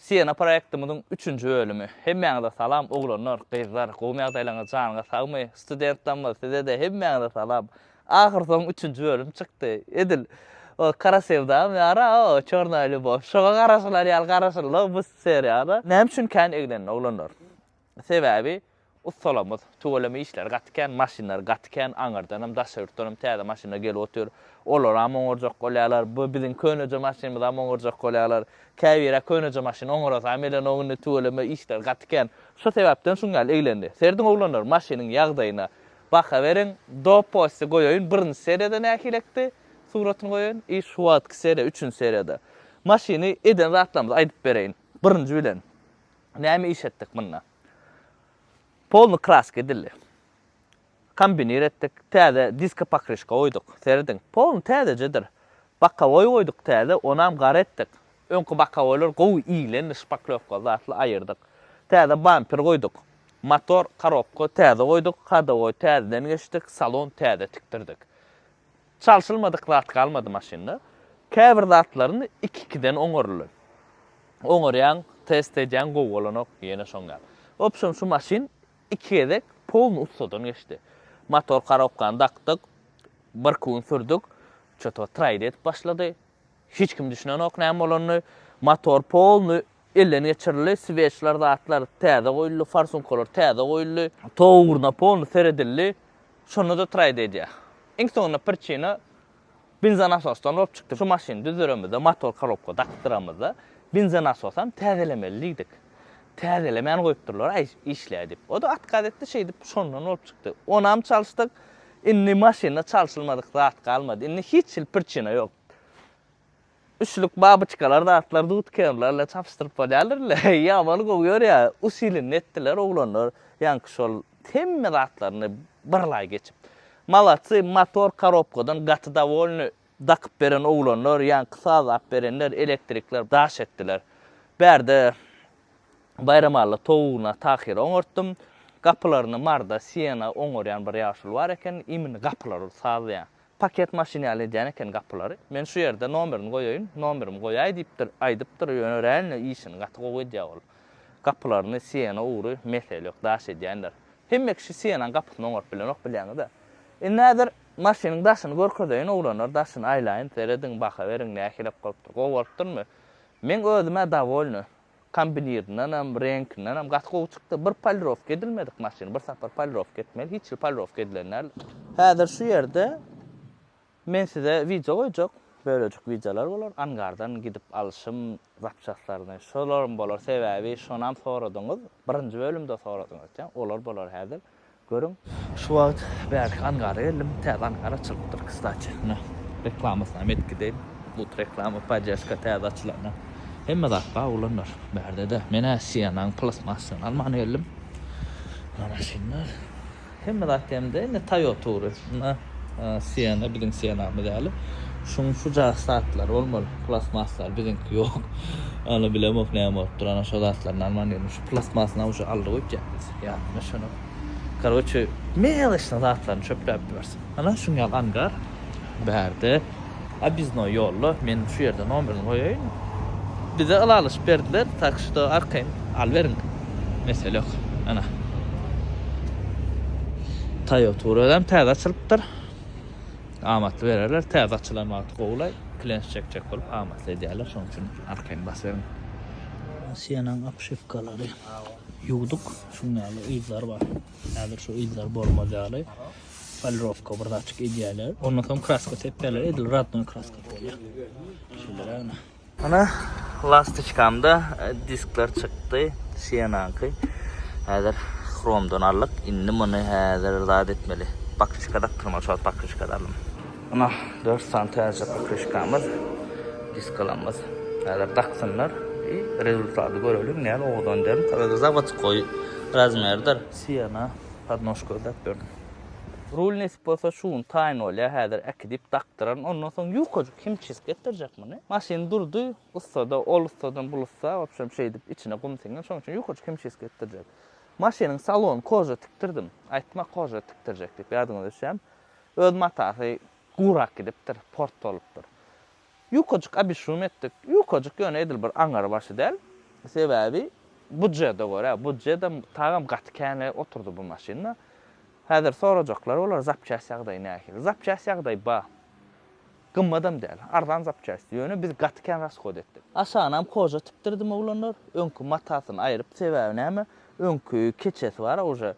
Siena proýektimiziň üçünji bölümi. Hemmäňize salam oglanlar, gyzlar, gowmy ýagdaýlaryňyz janyňyz sagmy, studentlamyz sizede hemmäňize salam. Ahyr soň üçünji bölüm çykdy. Edil o Kara sevdam ýara o Çornaýa lýubow şoňa garaşylar ýaly garaşylda bu seriýada. Näme üçin kän eglenildi oglanlar. Sebäbi ussalamyz tüweleme işleri gaty kän, maşynlary gaty kän, aňyrdanam, daşary ýurtdanam täze maşynlar gelip otyr. Olaram oňarjak bolýarlar. Bu biziň köneje maşynymyzam oňarjak bolýarlar. Käbir-ä köneje maşyn oňarasam gelenok indi, tüweleme işleri gaty kän. Şo sebäpden şuň ýaly eglendi. Serediň oglanlar maşynyň ýagdaýyna baha beriň. Doposty goýaýyn, birinji seriýada nähilekdi, suratyny goýaýyn i şu wagtky seriýa, üçünji seriýada. Maşyny eden zatlarymyzy aýdyp bereýin. Birinji bilen, Näme iş etdik munda? Polny kraska edildi. Kombinir etdik. Täze diska pokryşka goýduk. Serediň. Polny täzejedir. Bokowoý goýduk täze, onam gara etdik. Öňki bokowoýlar gowy iglendi, şpaklewka zatly aýyrdyk. Täze bamper goýduk. Motor, korobka täze goýduk. Hadowoý täzeden geçdik. Salon täze tikdirdik. Çalşylmadyk zat galmady maşynda. Käbir zatlaryn iki-ikiden oňaryly. Oňarýaň, test edýäň, gowy bolanok, ýene şoň ýaly. Wobşem şu maşyn iki gezek polny ussadan geçdi. Motor korobkany dakdyk, birki gün sürdük, ço-to traýda edip başlady. Hiç kim düşünenok näme bolanyny. Motor polny elden geçirildi. Sweçler zatlar täze goýuldy, farsunkalar täze goýuldy. Tog ugruna polny seredildi. Şonda-da traýda edýär. Iň soňunda priçina benzonasosydan bolup çykdy. Şu maşyny düzderemizde, motor korobka dakdyramyzda benzonasosyam täzelemeli diýdik. Täzelemän goýupdyrlar-aý işläý diýip. O-da otkaz etdi, şeýdip şondan bolup çykdy. Onam çalyşdyk. Indi maşynda çalşylmadyk zat galmady. Indi hiç hil prçina ýok. Üçlük babyçkalar zatlar dudkerler bilen çapyşdyryp bolýarlar indi. Ýamaly gowy ýörýär. Usilini etdiler oglanlar. Ýaňky şol hemme zatlaryny birlaý geçip. Malatsy, motor korobkadan gaty dowolny. Dakyp beren oglanlar, ýaňky saz ap berenler, elektrikler daş etdiler. Bärde Baýramalla towugyna Tahyry oňartdym. Gapylaryny Marda, Siena oňarýan bir ýaşuly bar eken. Imini gapylar ol sazlaýan. Paket maşyn ýaly edýän eken gapylary. Men şu ýerde nomerini goýaýyn, nomerimi goýaý diýipdir, aýdypdyr, ýöne örän-le işini gaty gowy edýär ol. Gapylaryny Siena ugry mesele ýok, daş edýändir. Hemme kişi Sienanyň gapysyny oňaryp bilenok bilýäňiz-ä. Indi häzir Maşynyň daşyny görkezeýin oglanlar daşyny aýlaýyn serediň baha beriň nähilek bolupdyr gowy bolupdyrmy meň özümä dawolny kombinirindenem reňkindenem gaty gowy çykdy bir polirowka edilmedik maşyn bir sapar polirowka etmeli hiç hili polirowka edilen däl. Häzir şu ýerde men size wideo goýjak bölejik wideolar bolar angardan gidip alşym zapçastlaryny şolaram bolar sebäbi şonam soradyňyz birinji bölümde soradyňyz olar bolar häzir Görüň. Şu wagt bärki angara geldim. Täze angar açylypdyr kstati. Mine reklamasyny hem edip gideýin. But reklama poddežka täze açylanda hemme zat bar oglanlar bärdede. Men-ä Sienanyň plastmassyny alman geldim. Muna maşynlar. Hemme zat hem-de indi Toyota ugry. Muna Siena biziň Sienamyz ýaly. Şuň şuja zatlary bolmaly. Plastmasslar biziňki ýok. Ýöne bilemok näme bolupdyr. Ana şo zatlaryny alman geldim. Şu plastmasyny-a uje aldy goýupjak biz. Ýadyňa şuny. Karoçe, meleşna zatlaryny çöpläp ýörsin. Ana, şuň ýaly angar. Bärde obýezdnoý ýolla. Men şu ýerde nomerini goýaýyn. Bize ylalaşyp berdiler, tak şuda arkaýyn alyberiň. Mesele ýok. Ana. Toýoturadam täze açylypdyr. Amatly bererler. Täze açylan wagty gowy-laý. Klenş çekjek bolup amatly edýärler. Şonuň üçin arkaýyn basyberiň. Sienanyň obşewkalary. Ýuwduk, şuň ýaly yzlar bar. Häzir şu yzlar bolmaz ýaly polirowka bir zatçyk edýärler. Ondan soň kraska sepýärler, edil radnoý kraska bolýar. Şeýlerägine. Ana, lastiçkamda e, diskler çykdy, Sienanky. Häzir hromdan aldyk. Indi muny häzir zat etmeli. Bakriçka dakdyrmaly, şol bakriçka dalym. Munah dört sany täze pokrişkamyz, diskalamyz. Häzir daksynlar i rezultaty göreliň näme owadan däl. Garaz zawodskoý razmerdir. Siena podnožka ödäp ber. Rul nesip bolsa şu gün taýyn bolýa häzir äkidip dakdyraryn ondan soň ýukajyk himçisk etdirjek muny maşyn durdy ussada ol ussadan bul ussa wobşem şeýdip içine gum siňen şoň üçin ýukajyk himçisk etdirjek maşynyň salony koža tikdirdim aýtma koža tikdirjek diýip ýadyňyza düşýämi Öz matasy gurak gidipdir, port bolupdyr. Ýukajyk abyşum etdik. Ýukajyk ýöne edil bir aňary başy däl. Sebäbi budjede görä, budjedem tagam gaty känle oturdy bu maşynda. Häzir sorajaklar bolar, zapçäst ýagdaýy nähili? Zapçäst ýagdaýy bar. Gymmatam däl, arzan zapçästi. Ýöne biz gaty kän rashod etdik. Aşagynam koja tikdirdim oglanlar. Öňki matasyny aýryp, sebäbi näme, öňki keçesi bar-a uje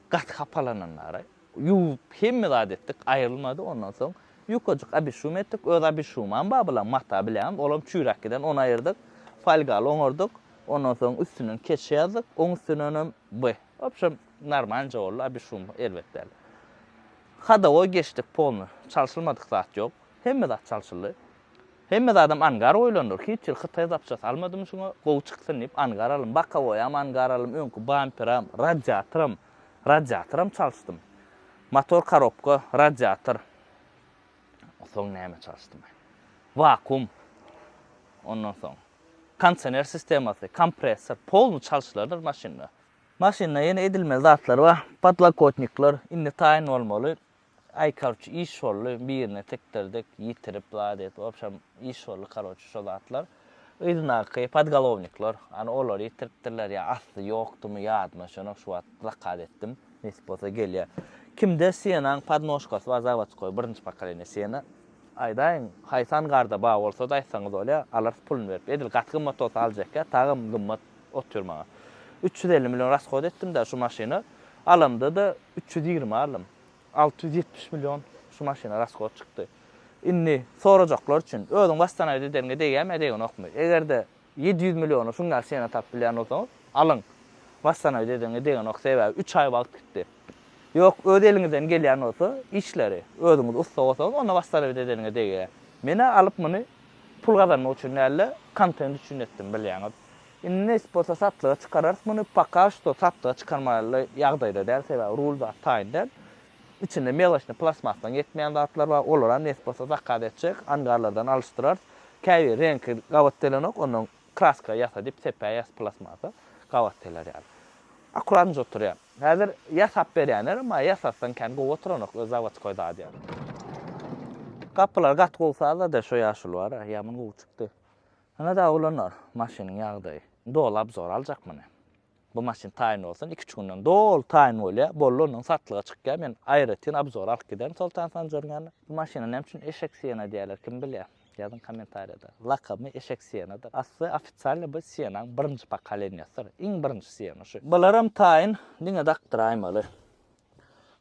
gaty hapalananlary. Ýuwup, hemme zat etdik, aýrylmady. Ondan soň ýukajyk abişum etdik. Öz abişumam bar bulaň, mata bilenem, olam çüýräp giden, ony aýyrdyk. Folgaly oňardyk. Ondan soň üstünden keçe ýazdyk, oň üstünenem by. Wobşem, normalnje boldy, abişum erbet däl. Hadowoý geçdik polny, çalşylmadyk zat ýok. Hemme zat çalşyldy. Hemme zadam angar goýlandyr. Hiç ýyl hytaý zapçasy almadym şuňa, gowy çyksyn diýip, angar aldym. Bokowoýam angar aldym, öňki bamperam, radiatoram. Radiatoram çalyşdym. Motor korobka, radiator. Soň näme çalyşdym? Wakuum. Ondan soň kondisioner sistemasy, kompressor, polny çalyşylardyr maşynda. Maşynda ýene edilmeli zatlar bar. Podlokotnikler indi taýyn bolmaly. Aý karçe iş boldy birine tikdirdik ýitirip zat edip wobşem iş boldy karoçe şo zatlar yzyndaky podgolownikler ana olary ýitiripdirler ýa asly ýokdumy ýadyma düşenok şu wagt zakaz etdim nesip bolsa gelýär kimde senaň podnožkasy bar zawodskoý birinji pokoleniýe sena aýdaýyň haýsy angarda bar bolsada aýtsaňyz bolýa alarys puluny berip edil gaty gymmat bolsa aljekka tagam gymmat otyr maňa üç ýüz elli million raskhod etdimda şu maşyny alamdada üç ýüz ýigrimi aldym. Alty ýüz ýetmiş million şu maşyna raskot çykdy. Indi sorajaklar üçin, özüň wasstanaýda edeniňe degýärmi-ä degenokmy? Eger-de ýedi ýüz milliona şuň ýaly şina tapyp bilýän bolsaňyz, alyň. Wasstanaýda edeniňe degenok, sebäbi üç aý wagt gitdi. Ýok, öz eliňizden gelýän bolsa, işleri, özüňiz ussa bolsaňyz, onda wasstanaýda edeniňe degýär. Men-ä alyp muny pul gazanmak üçin däl-de, kontent üçin etdim, bilýäňiz. Indi nesip bolsa satlyga çykararys muny, poka şto satlyga çykarmaly ýagdaýda däl, sebäbi rul zat taýyn däl. Içinde melosnyý plastmasdan ýetmeýän zatlar bar, olaram nesip bolsa zakaz etjek, angarlardan alyşdyrarys. Käbiri reňki gabat gelenok, ondan kraska ýasa diýip sepä ýas plastmasa gabat geler ýaly. Akurat njy oturýar. Häzir ýasap berýänlerem bar, ýasatsaň kän gowy oturanok, öz zawaçkoý zady ýaly. Gapylar gaty gowy sazlady, şo ýaşuly bar-a, ýaman gowy çykdy. Ana-da, oglanlar, maşynyň ýagdaýy. Indi ol obzor aljak muny. Bu maşyn taýyn bolsun, iki-üç günden doly taýyn bolýar. Boldy, ondan satlyga çykýar. Men aýratyn obzora alyp giderin Soltan Sanjaryň ýanyna. Bu maşyna näme üçin Eşek Siena diýýärler, kim bilýär? Ýazyň kommentariýada. Lakamy Eşek Sienadyr. Asly ofisialny bu Sienaň birinji pokoleniýasydyr. Iň birinji Siena şu. Bularam taýyn, diňe dakdyraýmaly.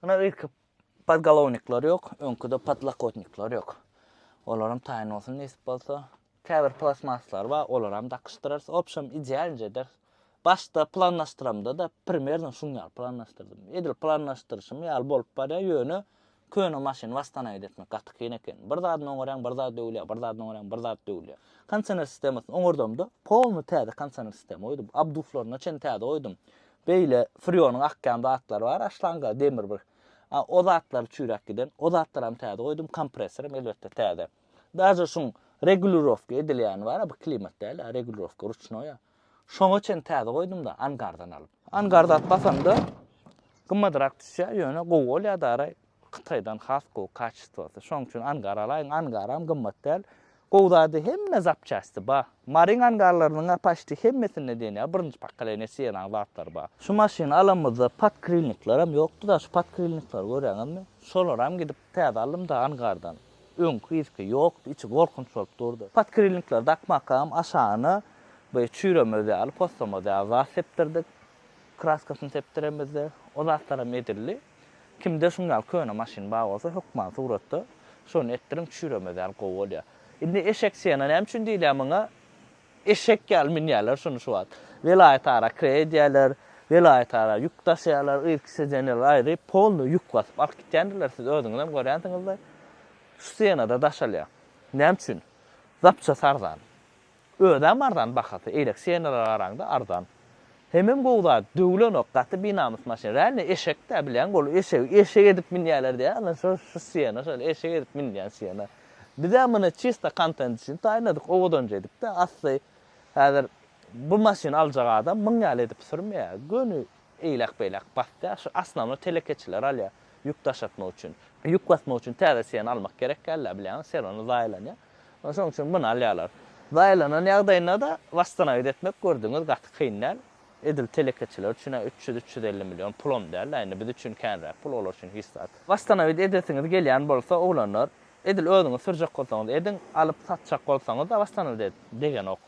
Ana, irki Podgolownikler ýok, öňküde podlakotnikler ýok. Olaram taýyn bolsun nesip bolsa. Käbir plastmaslar bar, olaram dakyşdyrarys. Obşem idealnje ederis. Başda planlaşdyramda-da primerno şuň ýaly planlaşdyrdym. Edil planlaşdyryşym ýaly bolup barýar, ýöne köne maşyny wastanaýat etmek gaty kyn eken. Bir zadyny oňarýaň, bir zat döwülýär, bir zadyny oňarýaň, bir zat döwülýär. Konsener sistemasyny oňardamda polny täze konsener sistema goýdum. Abduflaryna çen täze goýdum. Beýle Frýonyň akýan zatlary bar aşlanka demir bir. A o zatlar çüýräp giden. O zatlaram täze goýdum, kompressoram elbetde täze. Daže şuň regulirowka edilýäni bar-a bu klimat däl-ä, regulirowka ruçnoý-a. Şoňa çen täze goýdum-da angardan alyp. Angar zat basanda gymmadrak düşýär, ýöne gowy bolýar daraý. Kytaýdan has gowy kaçistwasy. Şoň üçin angar alaýyň. Angaram gymmat däl. Gowy zady hemme zapçasty bar. Maryň angarlarynyňa paçti hemmesinde diýen ýaly birinji pokoleniýa Sienanyň zatlary bar. Şu maşyny alanymyzda podkrilniklerem ýokdy-da, şu podkrilnikleri görýäňizmi? Şolaram gidip täze aldym-da angardan. Öňki yzky ýokdy, içi gorkunç bolup durdy. Podkrilnikleri dakmakam aşagyna bu çüýremez ýaly, poslamaz ýaly zat sepdirdik. Kraskasyny sepdiremizdi. O zatlaram edildi. Kimde şuň ýaly köne maşyn bar bolsa hökman suratda şony etdiriň çüýremez ýaly gowy bolýar. Indi eşek sena näme üçin diýilýär muňa eşek ýaly münýärler şuny şu wagt. Welaýat ara kre edýärler, welaýat ara ýük daşaýarlar, irki sedeniýalar aýry polny ýük basyp alyp gitýändirler siz özüňizem görýänsiňizdir. Şu senada daşalýar. Näme üçin? Zapças arzan. Özem arzan bahasy eýlek senelere garaňda arzan. Hemem gowy zat döwülenok gaty binamys maşyn rally eşekdä bilýäň bolu eşegi eşek edip minýäler diýä ana şo şu sena şol eşek edip minilýän sena. Bizem muny çista kontent üçin taýynladyk owadanja edipde asly häzir bu maşyny aljak adam myň ýaly edip sürmeýä göni eýlek beýlek basýa şu asnawno telekeçiler alýa ýük daşatmak üçin. Ýük basmak üçin täze sena almak gerek dälda bilýäňiz serwany zaýalanýa. Şonuň üçin muny alýarlar. Zaýalanan ýagdaýynda-da wastanaýyt etmek, gördüňiz, gaty kyn däl. Edil telekeçiler üçin-ä üç ýüz, üç ýüz elli million pul-am däl-ä, indi biz üçin känräk pul, olar üçin hiç zat. Wastanaýyt edesiňiz gelýän bolsa, oglanlar, edil özüňiz sürjek bolsaňyz ediň, alyp satjak bolsaňyz-da wastanaýyt edip degenok.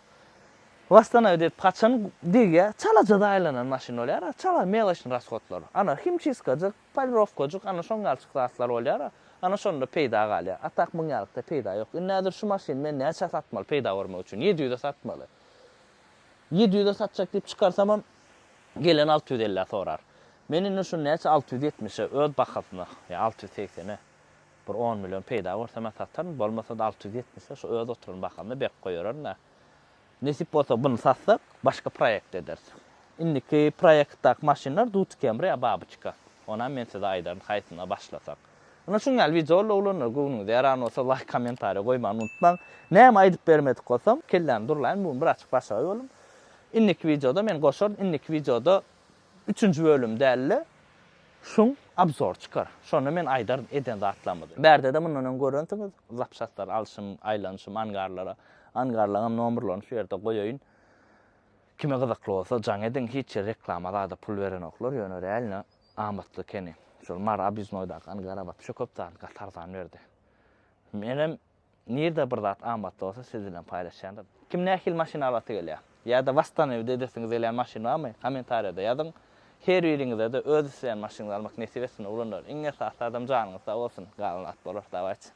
Wastanaýyt edip haçan degýär, çalaja zaýalanan maşyn bolýar-a, çala, meloçnyý rashodlar. Ana, himçiskajyk, Polirowkajyk, ana şoň ýalçyk zatlar bolýar-a. Ana şonda peýda galýar. A tak muň ýalykda peýda ýok. Indi häzir şu maşyny men näçä satmaly peýda görmek üçin? Ýedi ýüze satmaly. Ýedi ýüze satjak diýip çykarsamam, gelen alty ýüz ellä sorar. Men indi şuny näçe alty ýüz ýetmişe, öz bahasyna, ýa alty ýüz segsene bir on million peýda görsem-ä sataryn, bolmasa-da alty ýüz ýetmişe şu öz oturan bahamda berk goýaryn-da. Nesip bolsa buny satsak başga proýekt ederis. Indiki proýektdaki maşynlar Dut Camry ýa Babyçka. Onam men size aýdaryn haýsyna başlasak. Ynha şuň ýaly wideolar oglanlar göwnüňize ýaran bolsa laýk kommentariýa goýmany unutmaň. Näme aýdyp bermedik bolsam kelläni durlaýyn bu gün bir açyk başagaý boldum. Indiki wideoda men goşaryn indiki wideoda Üçünji bölüm dälde şuň abzor çykar şonda men aýdaryn eden zatlarymyzy bärdede mundan öň görensiňiz zapçastlar alşym aýlanyşym angarlara angarlaňam nomrlaryny şu ýerde goýaýyn kime gyzykly bolsa jaň ediň hiç ýer reklama zada pul berenoklar ýöne realno amatly ekeni şol mary obýuznoýdaky angara wapşe köp zady gaty arzan berdi menem Nirde bir zat amatly bolsa siz bilen paýlaşýaryn. Kim nähili maşyn alasy gelýär? Ýa-da wastanewide edesiňiz gelýän maşyn barmy? Kommentariýada ýazyň. Her biriňize-de öz isleýän maşynyňyzy almak nesip etsin oglanlar. Iň esasy zadam janyňyz sag bolsun. Galan zat bolar, dawaýçy.